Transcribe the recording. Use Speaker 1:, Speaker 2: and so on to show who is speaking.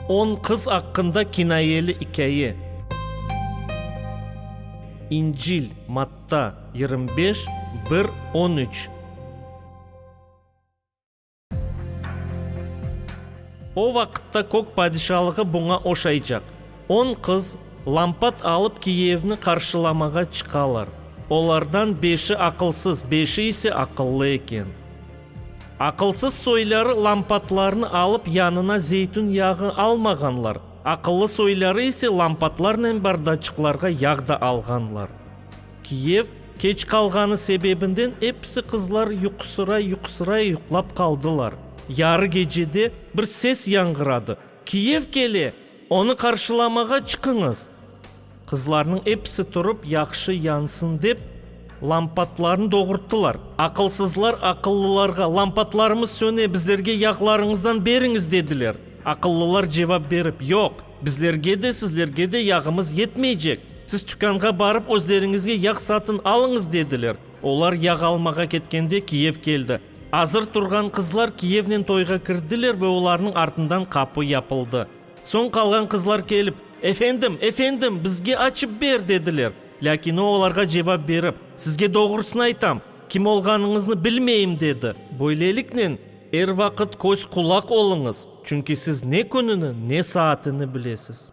Speaker 1: On qız aqqında kinayeli ikâye. İncil, Matta, yirmi beş, bir, on üç. O vaqıtta Kök Padişalığı buña oşaycaq. On qız, lampat alıp, Kiyevni qarşılamağa çıqalar. Olardan beşi aqılsız, beşi ise aqıllı eken. Aqılsız soyları lampatlarnı alıp yanına zeytün yağı almağanlar, aqıllı soyları ise lampatlarnen bardaçıqlarğa yağ da alğanlar. Kiyev, keç qalğanı sebebinden episi qızlar yuqusıray-yuqusıray yuqlap qaldılar. Yarı gecede bir ses yañğıradı, Kiyev kele! Onı qarşılamağa çıqıñız! Qızlarnıñ episi turıp, yahşı yansın dep, lampatlarnı doğurttılar. Aqılsızlar aqıllılarğa, Lampatlarımız söne, bizlerge yağlarıñızdan beriñiz! dediler. Aqıllılar cevap berip, Yoq, bizlerge de, sizlerge de yağımız yetmeycek. Siz tükânğa barıp, özleriñizge yağ satın alıñız! dediler. Olar yağ almağa ketkende Kiyev keldi. Azır turğan qızlar Kiyevnen toyğa kirdiler ve olarnıñ artından qapı yapıldı. Soñ qalğan qızlar kelip, Efendim, efendim, bizge açıp ber! dediler. Lâkin o olarğa cevap berip, Sizge doğrusını aytam, kim olğanıñıznı bilmeyim, dedi. Böyleliknen, er vaqıt köz-qulaq oluñız, çünki siz ne kününi, ne saatini bilesiz.